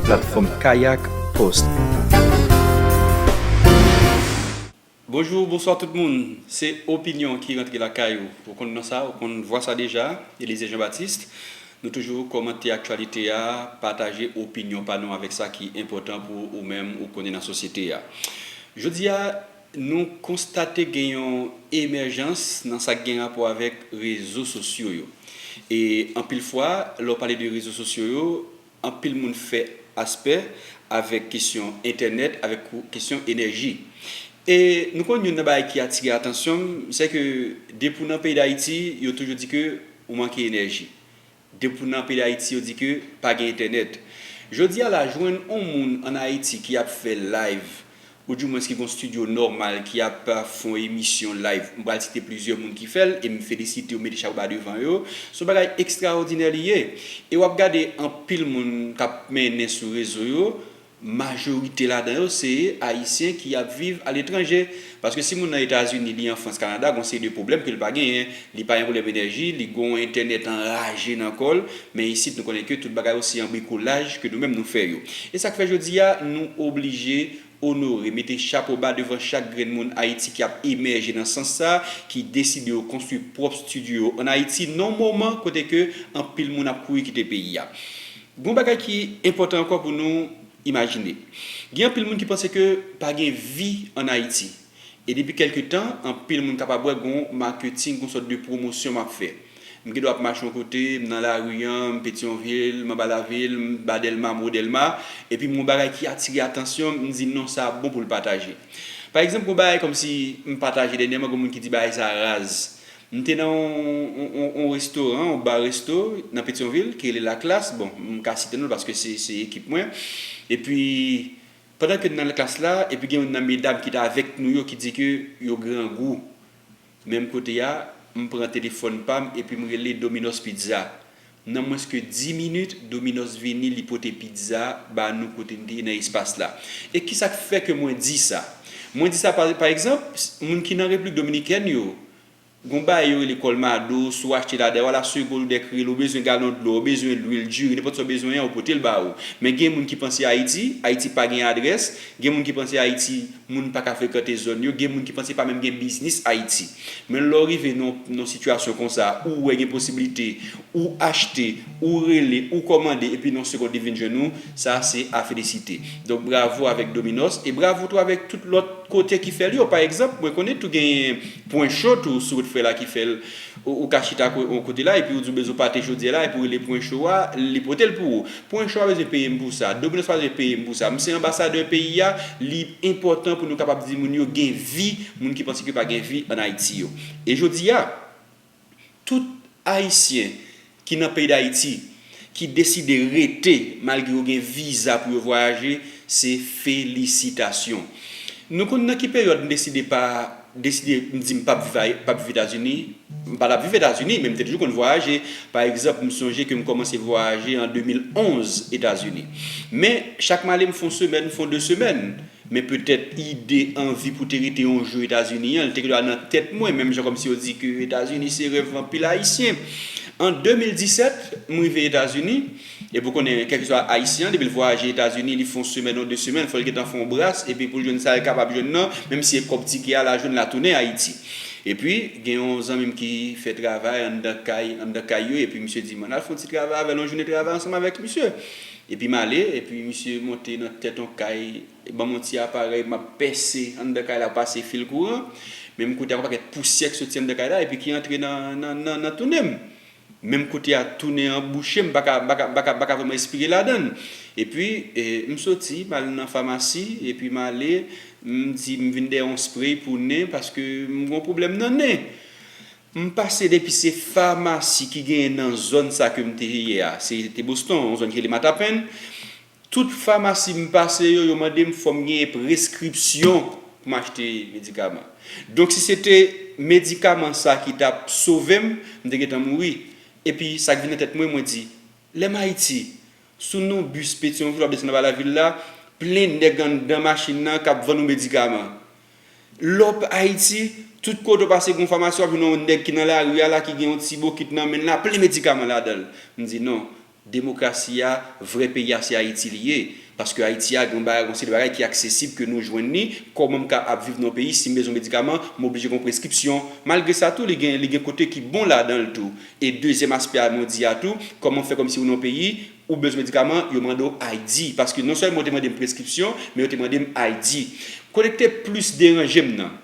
Platfòm Kayak Post. Bonjour bonsoir tout moun se opinion ki rantre lakay ou ou konn non sa ou konn vwa sa deja Elysée Jean Baptiste nou toujou kòmante aktyalite a pataje opinion pa nou avèk sa ki enpòtan pou ou menm ou konnen nan sosyete a jodi a Nou konstate gen yon emèjans nan sa k gen rapò avèk rezo sosyo yo. E anpil fwa, lè w pale de rezo sosyo yo, anpil moun fè aspè avèk kesyon entènèt, avèk kesyon enèji. E nou konn youn nan bagay ki atire atansyon m, sèke depi w nan peyi Dayiti, yo toujou di ke ou manke enèji. Depu nan peyi Ayiti yo di ke pa gen entènèt. Jodi a la jwenn on moun an Ayiti ki ap fè live ou di mwens ki gon studio nòmal ki ap fon emisyon live. M pral site plizyè moun ki fè l e m felisite yo, m mete chapo ba devan yo. S on bagay ekstraòdinè li ye. E w ap gade anpil moun k ap mennen sou rezo yo Majorite ladan yo se Ayisyen ki ap viv aletranje. Paske si moun nan Etazini, li an Frans, Kanada, gon seri de pwoblèm ke li pa genyen. Li pa gen pwoblèm enèji, li gon entènèt anraje nan kò l. Men isit nou konnen ke tout bagay yo se an brikolaj ke nou menm nou fè yo. E sa k fè jodi a nou oblije onore, mete chapo ba devan chak grenn moun Ayiti ki ap emèje nan sans sa, ki deside yo konstwi pwòp studio yo an Ayiti nan w moman kote ke anpil moun ap kouri kite peyi a. Gon bagay ki enpòtan ankò pou nou imajine. Gen anpil moun ki panse ke pa gen vi an Ayiti. E depi kèlke tan, anpil moun kapab wè gon maketing, gon sòt de pwomosyon m ap fè. M gen dwa ap mache yon kote, m nan lari an, m Petyonvil, m anba lavil, m ba Dèlma, m wo Dèlma, epi m wè yon bagay ki atire atansyon m, m di non sa bon pou l pataje. Pa egzanp, gon bagay kòmsi m pataje dènyèman, gon moun ki di bagay sa raz. M te nan yon restoran, yon bar resto nan Petyonvil ki rele La Classe, bon m ka site non l paske se ekip mwen, epi pandan ke n nan La Classe la epi gen youn nan medam ki t avèk nou yo ki di ke yo grangou, menm kote a m pran telefòn pa m epi m rele Dominos Pizza. Nan mwens ke 10 minit, Dominos vini, li pote pizza ba nou kote nou te ye nan espas la. E kisa k fè ke mwen di sa? Mwen di sa pa, pa egzanp, moun ki nan Repiblik Dominikèn yo, gon bagay yo rele Colmado, si w achte la, dayè w al a Sego Lourdes kreye l, ou bezwen galon dlo, ou bezwen lwil, diri, nenpòt sa w bezwen an, yo pote l ba ou. Men gen moun ki panse Ayiti, Ayiti pa gen adrès, gen moun ki panse Ayiti, moun pa ka frekante zòn yo, gen moun ki panse pa menm gen biznis Ayiti. Men lè w rive nan yon sitiyasyon konsa, ou wè gen posibilite, ou achte, ou rele, ou kòmande epi nan yon segond li vin jwenn ou, sa se a felisite. Donk bravo avèk Dominos e bravo tou avèk tout lòt kote ki fè l yo. Pa egzanp, mwen konnen tou genyen Pwen Cho tou sou wout frè la ki fè l. Ou ka chita yon kote la epi ou di w bezwen pate chodyè la epi w rele Pwen Cho a, li pote l pou ou. Pwench pa bezwen peye m pou sa. Dominos pa bezwen peye m pou sa. M se anbasadè peyi a, li enpòtan pou nou kapab di moun yo gen vi, moun ki panse ke pa gen vi an Ayiti yo. E jodi a, tout Ayisyen ki nan peyi Dayiti, ki deside rete malgre yo gen viza pou yo vwayaje, se felisitasyon. Nou konn nan ki peryòd m deside pa. M deside m di m pap viv Ayiti, pap viv Etazini. M pa tap viv Etazini, men m te toujou konn vwayaje. Pa egzanp, m sonje ke m kòmanse vwayaje an 2011 Etazini. Men, chak m ale m fon semèn, m fon 2 semèn. Men petèt ide, anvi pou te rete yon jou Etazini an, li te gentan nan tèt mwen, menm jan kòmsi yo di ke Etazini se rèv anpil Ayisyen. An 2017, m rive Etazini. Epi ou konnen kèlkeswa Ayisyen an depi l vwayaje Etazini li fè yon semèn ou 2 semèn fò l gentan fè yon bras epi pou l jwenn sa l kapab jwenn nan menm si e kòb tike a la jwenn la tounen Ayiti. Epi gen yon zanmi m ki fè travay anndan kay anndan kay yo epi misye di m ann al fè yon ti travay avè l yon jounen travay ansanm avèk misye. Epi m ale epi misye monte nan tèt yon kay li ban m yon ti aparèy m ap pèse anndan kay la pase fil kouran menm kote a yon pakèt pousyè ki soti anndan kay la epi ki antre nan nan nan nan tounen m. Menm kote a tou nen an bouche m paka paka paka vreman espire ladann epi m soti m al nan famasi epi m ale m di m vin dèyè yon spray pou nen paske m gon pwoblèm nan nen m pase depi se famasi ki genyen nan zòn sa ke m te ye a se te Boston yon zòn ki rele Mattapan. Tout famasi m pase yo, yo mande m fò m genyen preskripsyon pou m achte medikaman. Donk si se te medikaman sa ki t ap sove m, m te gentan mouri. Epi sa k vin nan tèt mwen, mwen di, lè m Ayiti, sou non bis Petion Ville w ap desann anba lavil la, plen nèg anndan machin nan k ap vann ou medikaman. Lè w p Ayiti, tout kote w pase gen yon famasi w ap jwenn yon nèg ki nan lari a la ki gen yon ti bokit nan men l la plen medikaman ladan l. M di non. Demokrasi a, vrè peyi a se Ayiti li ye. Paske Ayiti a gen yon bagay, yon seri de bagay ki aksesib ke nou jwenn li. Kòman m ka ap viv nan yon peyi si m bezwen medikaman, m oblije gen yon preskripsyon? Malgre sa tou li gen, li gen kote ki bon ladan l tou. E dezyèm aspè a mwen di a tou, kòman fè kòmsi ou nan yon peyi, ou bezwen medikaman, yo mande w ID? Paske non sèlman yo te mande m preskripsyon, men yo te mande m ID. Kote ki te plis deranje m nan.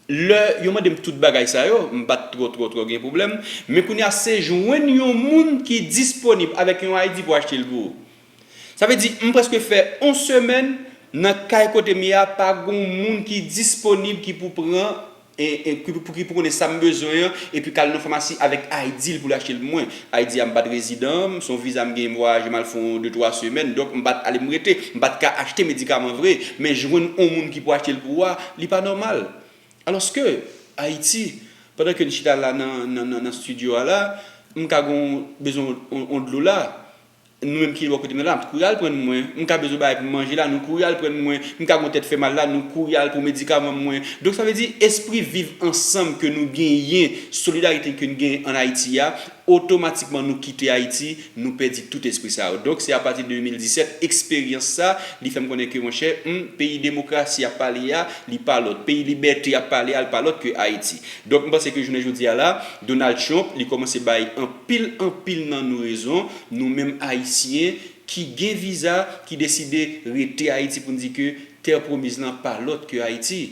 Lè yo mande m tout bagay sa yo, m pa t twò twò twò gen pwoblèm, men kounye a se jwenn yon moun ki disponib avèk yon ID pou achte l pou ou. Sa vle di, m prèske fè yon semèn nan kay kote m ye a pa gon moun ki disponib ki pou pran, ki pou konnen sa m bezwen an epi k al nan famasi avèk ID l pou l achte l pou mwen. Ayiti a m pat rezidan, m s on viza m genyen m vwayaje m al fè yon de twa semèn donk m pat ale m rete, m pat ka achte medikaman vre men jwenn on moun ki pou achte l pou ou a li pa nòmal alòske Ayiti pandan ke n chita la nan nan nan studio a la m ka gen yon bezwen yon dlo la. Nou menm ki bò kote m nan la, kouri al prann mwen. M ka bezwen bagay pou m manje la, nou kouri al prann mwen. M ka gen yon tèt fè mal la, nou kouri al pou medikaman mwen. Donk sa vle di espri viv ansanm ke nou genyen, solidarite ke n genyen an Ayiti a, otomatikman nou kite Ayiti, nou pèdi tout espri sa yo. Donk se apati 2017, eksperyans sa, li fè m konnen ke monchè, m, peyi demokrasi y ap pale a, li pa lòt. Peyi libète y ap pale a, l pa lòt ke Ayiti. Donk m panse ke jounen jodi a la, Donald Trump li komanse bay anpil anpil nan nou rezon, nou menm ayisyen ki gen viza ki deside rete ayiti poun di ke terre promise lan pa lòt ke ayiti.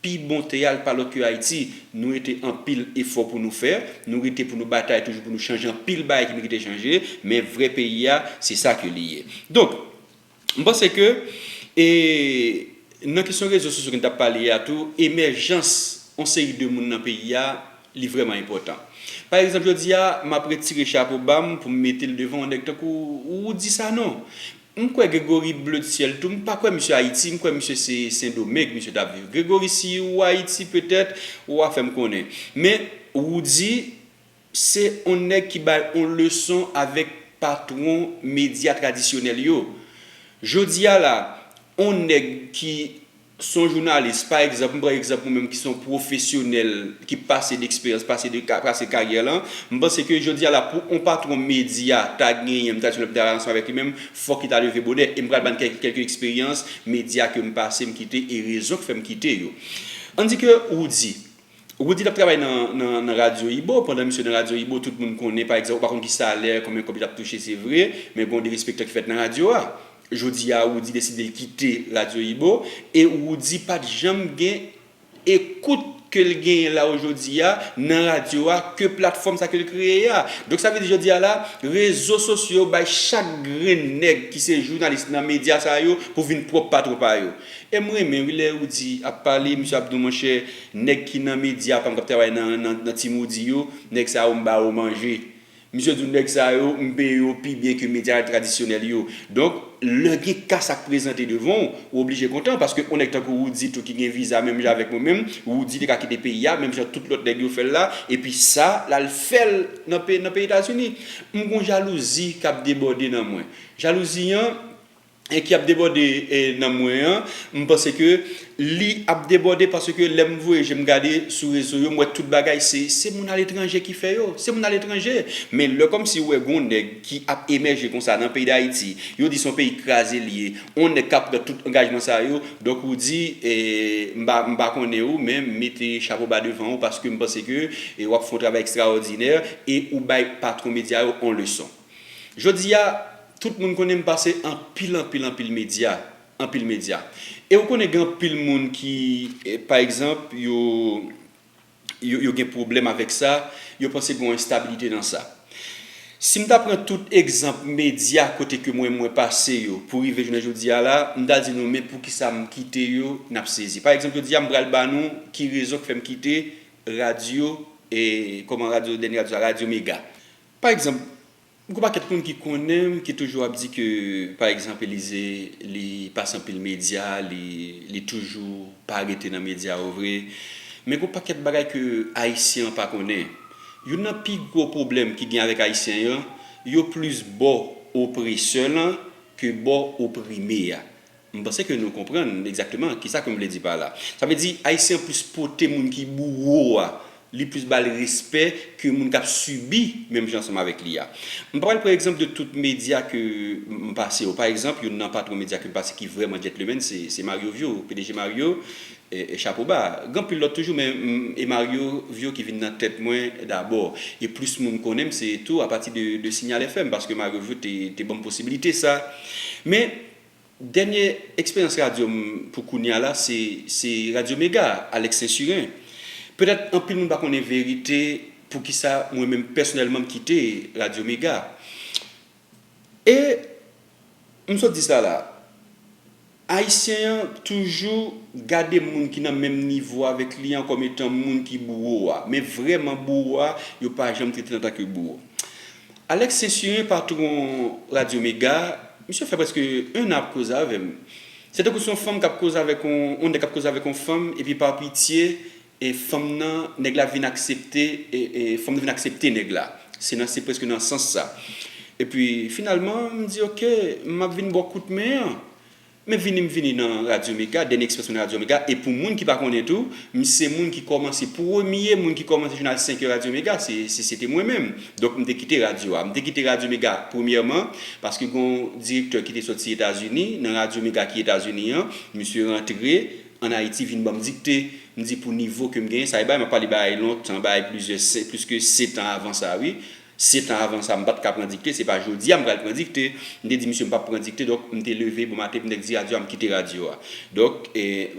Pi bon tè a li pa lòt ke ayiti, nou rete anpil efò pou nou fè, nou rete pou nou batay toujou pou nou chanje anpil bagay ki merite chanje, men vrè peyi a se sa ke li ye. Donk. M panse ke e nan kesyon rezo sosyo ke n t ap pale a tou, emèjans yon seri de moun nan peyi a li vrèman enpòtan. Pa egzanp jodi a, m ap retire chapo ba m pou m mete l devan yon nèg tankou Roody Sanon. M kwè Grégory Bleutyèl tou, m pa kwè misye Ayiti, m kwè misye se Sendomeng misye t ap viv. Grégory si ou Ayiti petèt ou a fè m konnen. Men Roody. Se on nèg ki bay on leson avèk patron medya tradisyonèl yo. Jodi a la, on nèg ki son jounalis, pa egzanp, m pran egzanp ou menm ki son pwofesyonèl ki pase deksperyans, pase de ka, pase karyè lan, m panse ke jodi a la pou on patron medya ta genyen, m ta di nou pou m ta al ansanm avèk li menm, fòk li ta leve bonè. E m pral bann kèk kèlke eksperyans medya ke m pase, m kite e rezon k fè m kite yo. An di ke Roody. Roody tap travay nan radyo ibo, pandan misye nan radyo ibo tout moun konnen pa egzanp ou pa konn ki salè, konbyen kòb li tap touche se vre, men gon derespektan ki fèt nan radyo a. Jodi a Roody deside l kite radyo ibo e Roody pat janm gen ekout ke l genyen la ojodi a nan radyo a ke platfòm sa ke l kreye a. Donk sa vle di jodi a la rezo sosyo bay chak grenn nèg ki se jounalis nan medya sa yo pou vin pwòp patwon pa yo. Em renmen wi lè Roody ap pale misye ap nou monchè nèg ki nan media pam kap travay nan nan team Roody yo nèg sa yo m ba yo manje misye di nou nèg sa yo m peye yo pi byen ke media tradisyonèl yo donk lè gen ka sak prezante devan w ou oblije kontan paske on nèg tankou Roody tou ki gen viza menm jan avèk mwen menm Roody te ka kite peyi a menm jan tout lòt nèg yo fèl la epi sa lal fèl nan peyi etazini m gon jalouzi kap debòde nan mwen jalouzi an ki ap debòde nan mwen an, m panse ke li ap debòde paske lè m voye je m gade sou rezo yo m wè tout bagay se se moun aletranje ki fè yo, se moun aletranje. Men lè kòmsi ou wè gen yon nèg ki ap emèje konsa nan peyi Dayiti, yo di se yon peyi kraze li ye, yon nèg ka pran tout angajman sa yo, donk ou di m pa m pa konnen ou men m mete chapo ba devan ou paske m panse ke w ap fè yon travay ekstraòdinè e ou bay patwon medya yo yon leson. Jodi a, tout moun konnen m pase anpil anpil anpil medya, anpil medya. E ou konnen gen anpil moun ki, pa egzanp, yo yo gen pwoblèm avèk sa, yo panse gen yon enstabilite nan sa. Si m ta pran tout egzanp medya kote ke mwen mwen pase yo pou rive jounen jodi a la, m ta di nou men poukisa m kite yo, n ap sezi. Pa egzanp jodi a m pral ba nou ki rezon k fè m kite radyo, kòman radyo, dènye radyo sa, radyo mega. Pa egzanp, m gon pakèt moun ki konnen m ki toujou ap di ke pa egzanp Elize li pase anpil medya, li li toujou pa rete nan medya yo vre. Men gon pakèt bagay ke ayisyen an pa konnen. Youn nan pi gwo pwoblèm ki gen avèk ayisyen an, yo plis bò opresè lan ke bò oprime a. M panse ke nou konprann egzakteman kisa ke m vle di pa la. Sa vle di Ayisyen an plis pote moun ki bouwo a, li plis ba l respè ke moun k ap sibi menm jan ansanm avèk li a. M pa pral pran egzanp de tout medya ke m pase yo. Pa egzanp, youn nan patwon medya ke m pase ki vrèman djètlemenn se se Mario Vio, pdg Mario, e chapo ba. Gen anpil lòt toujou men m e Mario Vio ki vin nan tèt mwen dabò. E plis moun konnen m se tou apati de de Signal FM paske Mario Vio te te ban m posibilite sa. Men, Dènye eksperyans radyo m pou kounye a la se Radyo Mega, Alex Sainsurin. Petèt anpil moun pa konnen verite poukisa mwen menm pèsonèlman m kite Radyo Mega. E m sot di sa la, Ayisyen an toujou gade moun ki nan menm nivo avèk li an kòm etan moun ki bouwo a. Men vrèman bouwo a, yo pa janm trete l antanke bouwo. Alex Censuré patron radio mega misye fè preske 1 an ap koze avèm se tankou son fanm kap koze avèk on on nèg kap koze avèk on fanm epi par pitye e fanm nan nèg la vin aksepte e e fanm nan vin aksepte nèg la se nan se preske nan sans sa epi finalman mdi ok map vin baw kout men an Men vini m vini nan Radyo Mega, Dènye Ekspresyon nan Radyo Mega, e pou moun ki pa konnen tou, m se moun ki kòmanse, premye moun ki kòmanse jounal 5 è Radyo Mega, se, se se te mwen menm. Donk m te kite radyo a. M te kite Radyo Mega, premyèman, paske gen yon direktè ki te soti Etazini, nan Radyo Mega ki Etazini an, misye rantre ann Ayiti vin ban m dikte. M di pou nivo ke m genyen, sa e bagay m ap pale bagay lontan, bagay plizyè, se, pliske setan avan sa wi, Sept ans avan sa m pat ka pran dikte se pa jodi a m pral pran dikte. M te di misye m pap pran dikte donk m te leve bon maten pou nèg di radyo a m kite radyo a. Donk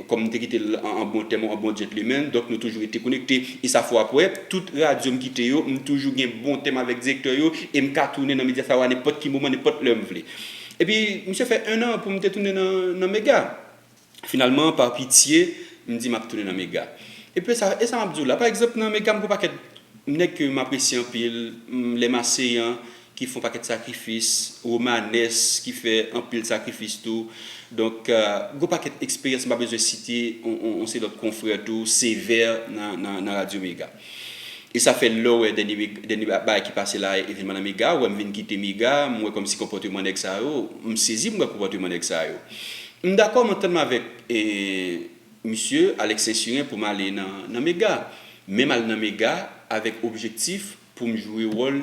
kòm m te kite l an bon tèm an bon djentlemen donk nou toujou rete konekte e sa fò apwè tout radyo m kite yo m toujou gen bon tèm avèk direktè yo e m ka tounen nan Mediafire nenpòt ki moman nenpòt lè m vle. Epi misye fè 1 an pou m te tounen nan Mega. Finalman, pa pitye, m di m ap tounen nan mega. Epi sa, e sa m ap di w la, pa egzanp, nan mega m gen yon pakèt nèg ke m apresye anpil, lè m aseyan ki fè yon pakèt sakrifis, Romanes ki fè anpil sakrifis tou. Donk, gen yon pakèt eksperyans m pa bezwen site yon seri lòt konfrè tou, Sévère nan radyo mega. E sa fè lèw wè dènye dènye bagay ki pase la evenman nan mega ou wèm vin kite mega m wè kòmsi konpòteman nèg sa yo m sezi m wè konpòteman nèg sa yo m dakò m antann m avèk misye Alex sensiren poum ale nan mega menm al nan mega avèk objektif poum jwe wòl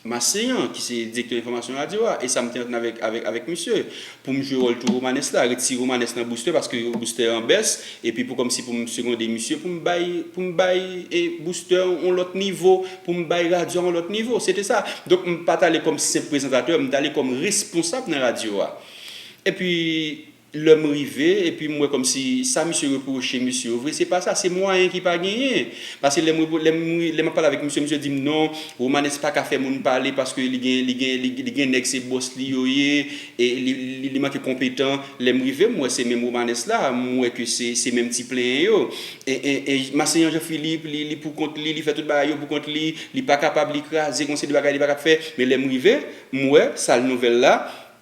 Maseyan, ki se direktè enfòmasyon radyo a, e sa m te antann avèk misye, pou m jwe wòl tou Romanes la, retire Romanes nan Booster paske Booster an bès, epi pou kòmsi pou m segonde misye pou m bay pou m bay Booster yon lòt nivo, pou m bay radyo a yon lòt nivo. Se te sa. Donk m pa t ale kòm senp prezantatè, m t ale kòm responsab nan radyo a. Epi. Lè m rive, epi m wè kòmsi sa misye repwoche mesye yo vre se pa sa, se mwayen ki pa genyen. Pase lè m repwo, lè m ri, lè m ap pale avèk misye, misye di m non, Romanes pa ka fè moun pale paske li gen, li gen, li gen nèg se bòs li yo ye, e li, li manke konpetan. Lè m rive, m wè se menm Romanes la, m wè ke se, se menm ti plenyen yo. E, e, e Masenyan Jean Philippe, li, li pou kont li, li fè tout bagay yo pou kont li, li pa kapab, li kraze, gon seri de bagay li pa kab fè. Men lè m rive, m wè, sal nouvèl la,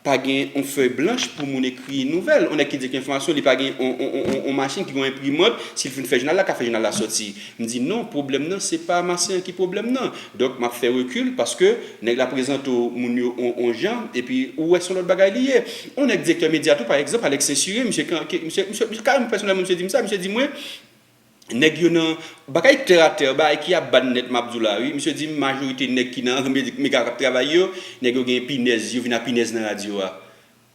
Pa gen yon fèy blanch pou moun ekri nouvèl. Yon nèg ki di gen enfòmasyon, li pa gen yon machin ki gen yon enprimant, si l fin fè jounal la, l ka fè jounal la sòti. M di non, pwoblèm nan se pa Marcelin ki pwoblèm nan. Donk, m ap fè rekil paske nèg la prezante w moun yo yon jan epi ou wè se yon lòt bagay li ye. Yon nèk direktè medya tou pa egzanp, Alex Sainsuré, misye kareman pèsonèlman misye di m sa, misye di mwen, Nèg yo nan Bagay tè a tè bagay ki ap ban nèt map di w la wi misye di m majorite nèg ki nan mega kap travay yo nèg yo gen pinèz yo vin a pinèz nan radyo a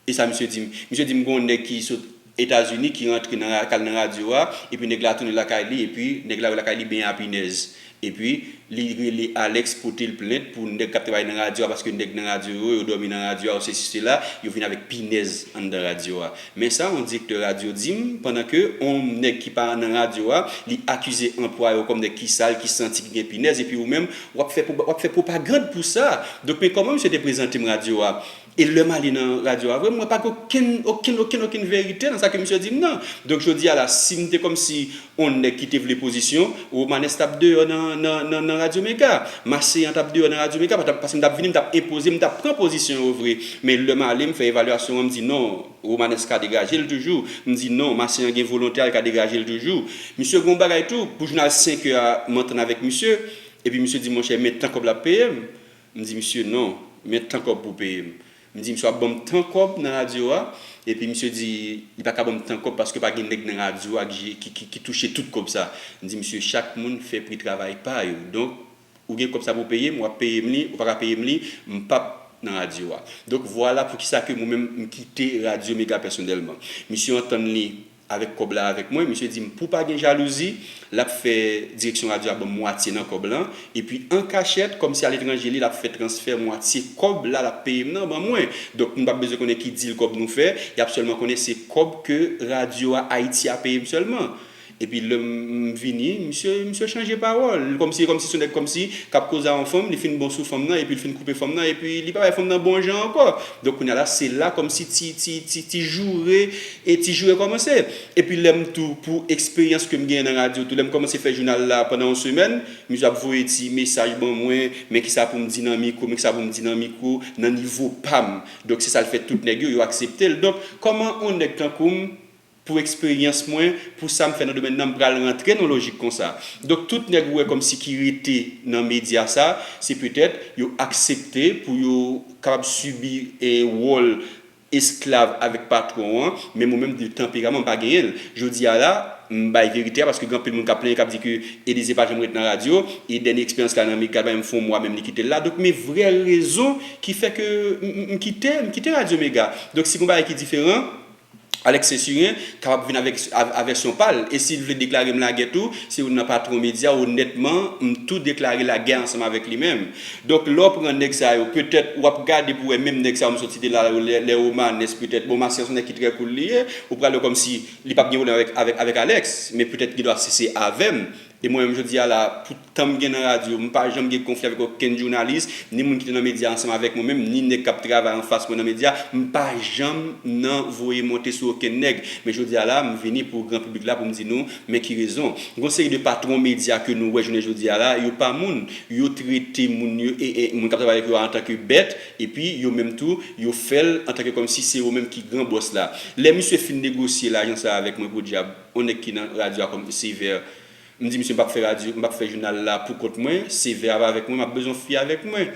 e sa misye di m misye di m gon nèg ki sot etazini ki rantre nan kal nan radyo a epi nèg la tounen lakay li epi nèg la wè lakay li benyen a pinèz Epi li rele Alex potel plent pou nèg kap travay nan radyo a paske nèg nan radyo yo yo dòmi nan radyo a yo sesi sela yo vin avèk pinèz anndan radyo a men sa on direktè radyo dim pandan ke on nèg ki pa nan radyo a li akize anplwaye w kòm nèg ki sal ki santi ki gen pinèz epi ou menm wap fè wap fè pwopagand pou sa donk men kòman misye te prezante m radyo a E lèm ale nan radyo a vre mwen pa gen okenn okenn okenn okenn verite nan sa ke misye dim nan. Donk jodi a la sim te kòmsi on nèg ki te vle pozisyon, Romanès tap deyò nan nan nan radyo mega. Maseyan tap deyò nan radyo mega paske m tap vini m tap enpoze m tap pran pozisyon yo vre. Men lèm ale m fè evalyasyon an m di non Romanès ka degaje l toujou, m di non Maseyan gen volonte a l ka degaje l toujou. Misye gon bagay tou pou jounal 5 è a m antann avèk misye epi misye di monchè men tan kòb la peye m. M di misye non, men tan kòb pou w peye m. M di misye w ap ban m tan kòb nan radyo a? Epi misye di li pa ka ban m tan kòb paske pa gen nèg nan radyo a ki touche tout kòb sa. M di misye chak moun fè pri travay pa yo. Donk ou gen kòb sa pou w peye m, w ap peye m li, ou pa ka peye m li, m pap nan radyo a. Donk vwala poukisa ke mwen menm m kite radyo mega pèsonèlman. Misye antann li Avèk kòb la avèk mwen, misye di m pou pa gen jalouzi, l ap fè direksyon radyo a ban m mwatye nan kòb lan, epi an kachèt, kòmsi aletranje li, l ap fè transfè mwatye kòb la l ap peye m nan ban mwen. Donk, nou pa p bezwen konnen ki dil kòb nou fè, y ap sèlman konnen se kòb ke radyo a, Ayiti a, peye m sèlman. Epi lè m vini, misye, misye chanje pawòl. L kòmsi, e kòmsi se yon nèg kòmsi, k ap koze a yon fanm, li fin bon sou fanm nan, epi l fin koupe fanm nan, epi li pa bay fanm nan bon jan ankò. Donk, kounye a la, se la kòmsi ti, ti, ti, ti joure, E ti jou rekòmanse. Epi lè m tou pou eksperyans ke m genyen nan radyo tou, lè m kòmanse fè jounal la pandan yon semèn, misye ap voye ti mesaj ban mwen, men kisa pou m di nan mikwo, men kisa pou m di nan mikwo, nan nivo pa m. Donk se sa l fè tout nèg yo, yo aksepte l. Donk kòman yon nèg tankou m, pou eksperyans mwen, pou sa m fè nan domèn nan, m pral rantre nan yon lojik konsa? Donk tout nèg ou wè kòmsi ki rete nan medya sa, se petèt yo aksepte pou yo kapab sibi wòl, esklav avèk patwon an, menm ou menm di tanperaman m pa genyen l. Jodi a la, m bay verite a paske gen anpil moun k ap plenyen k ap di ke Elize pa janm ret nan radyo e dènye eksperyans la nan Mega bay m fon mwa menm li kite l la. Donk men vrè rezon ki fè ke m kite m kite radyo Mega. Donk si gen yon bagay ki diferan, Alex Saint-Cyrin kapab vin avèk a vèsyon pa l e si l vle deklare m lagè tou, se yon nan patwon medya onètman m tou deklare lagè ansanm avèk li menm. Donk lè w pran nèg sa yo petèt w ap gade pou wè menm nèg sa yo m sot site la yo lè Romanes petèt bon Marcel s on nèg ki trè cool li ye ou pral wè kòmsi li p ap gen pwoblèm avèk avèk Alex men petèt gen dwa si se avè m e mwen menm jodi a la pou tan m gen nan radyo m pa janm gen konfli avèk okenn jounalis ni moun ki te nan medya ansanm avèk mwen menm ni nèg k ap travay anfas mwen nan medya m pa janm nan voye monte sou okenn nèg men jodi a la m vini pou gran piblik la pou m di nou Men ki rezon, gon seri de patron medya ke nou wè jounen jodi a la, yo pa moun, yo trete moun yo, moun kap travay avèk yo a antan ke bèt, epi yo menm tou, yo fèl antan ke kòm si se yo menm ki gran bòs la. Lè misye fin negosye lajan sa avèk mwen podyab, on nèg ki nan radyo a kòm Sévère, m di misye m pap fè radyo, m pap fè jounal la pou kont mwen, Sévère ap avèk mwen, map bezwen on fi avèk mwen.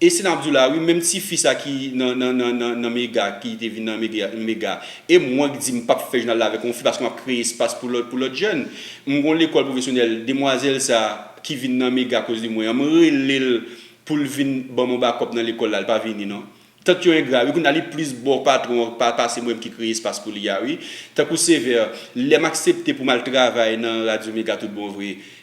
E si nap diw la wi menm ti fi sa ki nan nan nan nan nan mega ki te vin nan mega mega e mwen k di m pap fè jounal la avèk yon fi paske map kreye espas pou lòt pou lòt jèn m gon lekòl pwofesyonèl demwazèl sa ki vin nan mega akoz de mwen an m relel poul vin banm yon bakòp nan lekòl la li pa vini non tant yo engra wi kounya li plis bò patron an pa pase mwen ki kreye espas pou li a wi tankou sevè lèm aksepte poum al travay nan radyo mega tout bon vre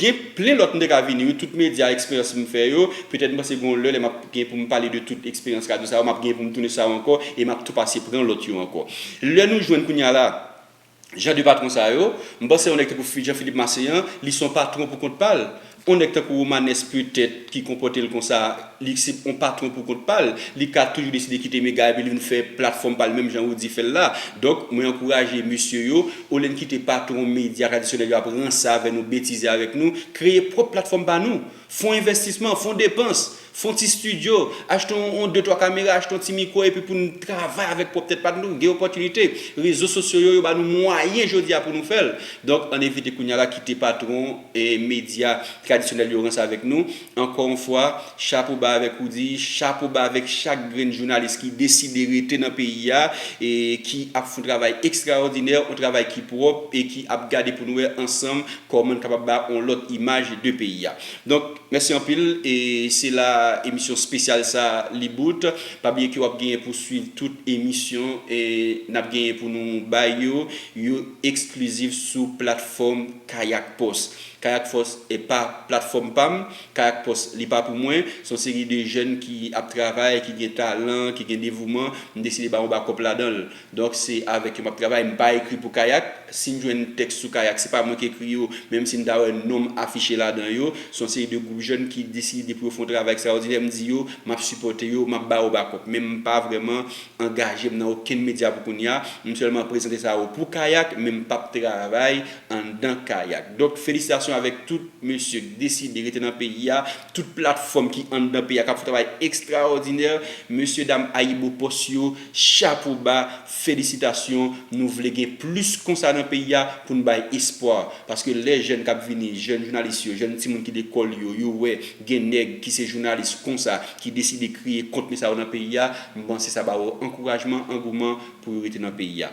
Gen plen lòt m te ka vini wi, tout medya, eksperyans m fè yo, petèt m panse gen yon lè lè m ap gen pou m pale de tout eksperyans radyo sa yo, m ap gen pou m tounen sou sa yo ankò e m ap tou pase pran lòt yo ankò. Lè nou jwenn kounye a la jan de patwon sa yo, m panse yon nèg tankou Jean Philippe Masséan, li se yon patwon pou kont pa l, yon nèg tankou Romanes petèt ki konpòte l konsa, Li se yon patron pou kont pa l. Li ka toujou deside kite Mega epi li vin fè platfòm pa l menm jan Roody fè l la. Donk, mwen ankouraje mesye yo, olye n kite patron medya tradisyonèl yo ap ranse avè nou, betize avèk nou, kreye pwòp platfòm pa nou. Fon envèstisman, fon depans, fon ti stidyo, achte yon de twa kamera, achte yon ti mikwo epi pou n travay avèk pwòp tèt pa nou. Gen opòtinite. Rezo sosyo yo, yo ba nou mwayen jodi a pou nou fè l. Donk, ann evite kounye a la kite patron medya tradisyonèl yo ranse avèk nou. Ankò yon fwa, chapo ba avèk Roudy, chapo ba avèk chak grenn jounalis ki deside rete nan peyi a e ki ap fon travay ekstraòdinè, on travay ki pwòp e ki ap gade pou nou wè ansanm kòman n kapab ba on lòt imaj de peyi a. Donk, mèsi anpil e se la emisyon spesyal sa a li bout. Pa bliye ke w ap genyen pou swiv tout emisyon n ap genyen pou nou bay yo, yo eksklizif sou platfòm KayakPost. Kayak Fòs pa platfòm pa m, Kayak Pòs li pa pou mwen. Se yon seri de jèn ki ap travay, ki gen talan, ki gen devouman. M deside ba yon bakòp ladan l. Donk se avèk yo m ap travay. M pa ekri pou Kayak. Si m jwenn tèks sou Kayak, se pa mwen ki ekri yo, menm si m ta wè non m afiche ladan yo. Se yon seri de gwoup jèn ki deside pou yo fè yon travay ekstraòdinè. M di yo m ap sipòte yo, m ap ba yo bakòp. Men m pa vrèman angaje m nan okenn medya pou kounya. M sèlman prezante sa yo pou Kayak, men m p ap travay anndan kayak donk felisitasyon avèk tout mesye k deside rete nan peyi a tout platfòm ki anndan peyi a kap fè travay ekstraòdinè mesye dam ayibopost yo chapo ba felisitasyon nou vle gen plis konsa nan peyi a pou n bay espwa paske lè jèn kap vini jèn jounalis yo jèn timoun ki lekòl yo yo wè gen nèg ki se jounalis konsa ki deside kreye kontni sa yo nan peyi a m panse sa ba yo ankourajman angouman pou yo rete nan peyi a.